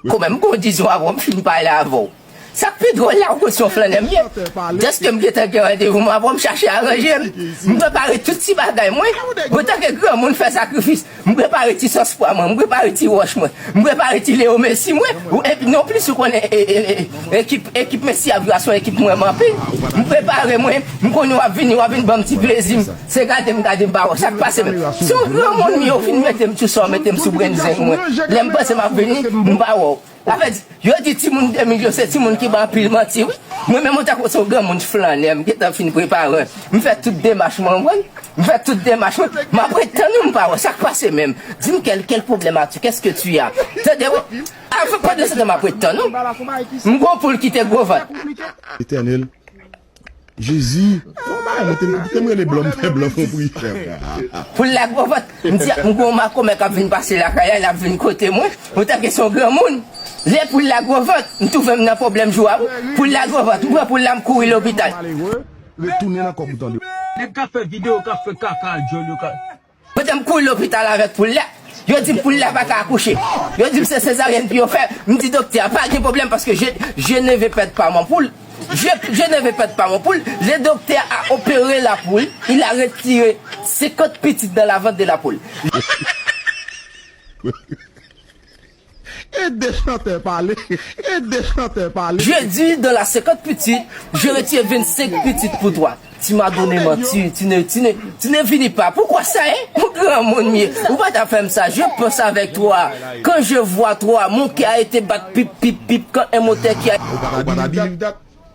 Kòmè m gon dizon avè w m fin pale avè w Sa k pi dwòl la ou konn se yon flannè m ye Dèske m gentan gen randevou m avè w m chache aranje m M prepare tout ti bagay mwen Antanke granmoun m fè sakrifis M prepare ti sòs pwa mwen M prepare ti wòch mwen M prepare ti Leo Messi mwen Ou enpi non plis ou konnen Ekip ekip Messi ap jwe a se yon ekip m renmen anpil M prepare mwen M konnen w ap vini w ap vin ban m ti plezi m. Se gade m gade m pa wè sa k pase m Si w granmoun m yo vin mete m sou sa w mete m sou brenn zeng mwen Lè m panse m ap vini m pa wè w Sa vle di yo di timoun 2000 yo se timoun ki ban anpil manti wi Mwen menm ou ta kwè se yon granmoun flannè m gentan fin prepare m fè tout demach mwen w konn M fè tout demach mwen m ap ret tann ou m pa wè w Sa k pase menm Di m quel quel problème as-tu Qu'est-ce que tu as Tande wi Avan pandan se tan m ap ret tann ou M gen yon poul ki te gwo vant. Etènel, Jezi bon bagay mwen te kite m rele blom fè blom pou priyè frè. Pou lak bon vant m di m gon makomè kap vin pase lakay la lap vin kote mwen mwen tanke son granmoun lè poul la gwo vant m twouve m nan pwoblèm jou a wi poul la gwo vant m pran poul la m kouri lopital. Nèg kap fè video kap fè kaka a dyòl yo ka. Yo te m kouri lopital avèk poul lè, yo di m poul lè pa ka akouche. Yo di m se sezaryèn pou yo fè, m di doktè a pa gen pwoblèm paske je je ne ve pèd pa mon poul, je je ne ve pèd pa mon poul, le doktè a opere la poul, il a retire 50 pitit dan la vant de la poul. Ede chantè pale, ede chantè pale. Je di dans la senkant pitit, je retire vennsenk pitit pou twa. Ti madone manti, tine, tine, tine vini pa pou kwa sa e? Ou granmoun m ye, ou pa ta fè m sa, je panse avèk twa, kan je vwa twa, mon kè a ete bat pip, pip, pip, kan en motè ki a. Ou pa ta di li dat, dat.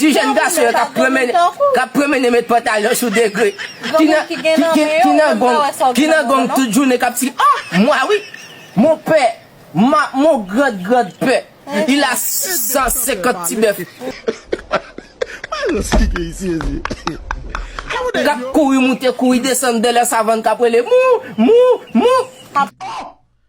Ti jèn gason yo kap pwomene met pantalon sou degre Ki nan gong Ki nan gong tout jounen kap ti ah mwa wi Mon pè ma mon grand grand pè Il a 650 ti bèf Kap kouri moute kouri desann Bèlè savann kap rele mou mou mou.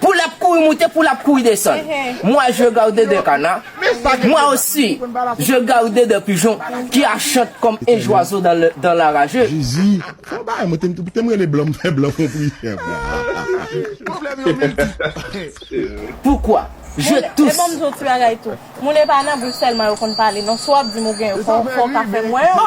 Pou l ap kouri moute, pou l ap kouri desann. Mwa je gawde de kana, mwa osi je gawde de pijon ki a chant kòm e jwazo dan la raje. Jezi, fon bagay mwen te m rele blan m fè blan fon priyè pou mwen. Poukwa je tous. Moun e pa nan bouch sèlman yo konn pale non si w ap di m ou gen yo fò w ka fè m wè yo.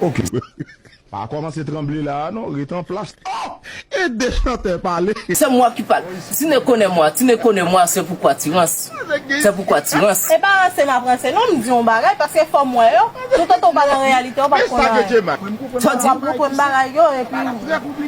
Ok. Pa komanse tranble la a non, ret anplas. Oh! Ede chantè pale. Se mwa ki pale. Tine konnen mwa, tine konnen mwa se pou kwatirans, se pou kwatirans. E pa ranse m ap ranse non, m di yon bagay paske fò m wè yo, toutotan w pa nan reyalite w pap konn anyen. Fò w konn bagay yo epi.